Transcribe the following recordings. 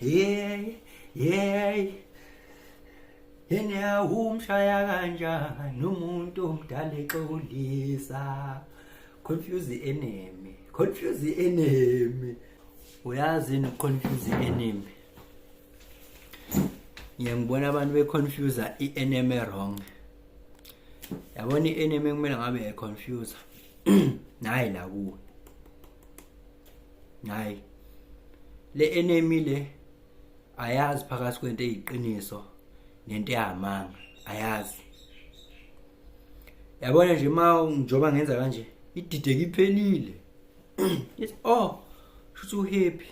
Yey, yey. Yena umshaya kanjani umuntu omdala exolisa. Confuse the enemy. Confuse the enemy. Uyazi ni confuse the enemy. Ngiyangibona abantu be confuse i enemy wrong. Yabona i enemy kumele ngabe e confuse. Nayi la kuwe. hayi le enemy le ayazi phakathi kwento eyiqiniso nento ehamanga ayazi yabona nje ma njoba ngenza kanje idideke iphelile yes oh shuthi uhappy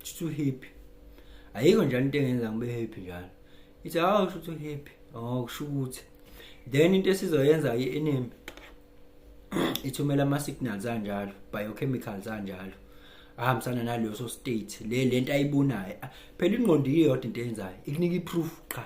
shuthi uhappy ayikho njalo into engenza ngibe happy njalo ithi hawu shuthi uhappy oh kusho ukuthi then into esizoyenza i-enemy ithumela ama-signals anjalo biochemicals anjalo ahambisana naleso state le lento ayibonayo phela ingqondo iyodwa into eyenzayo ikunika i-proof qha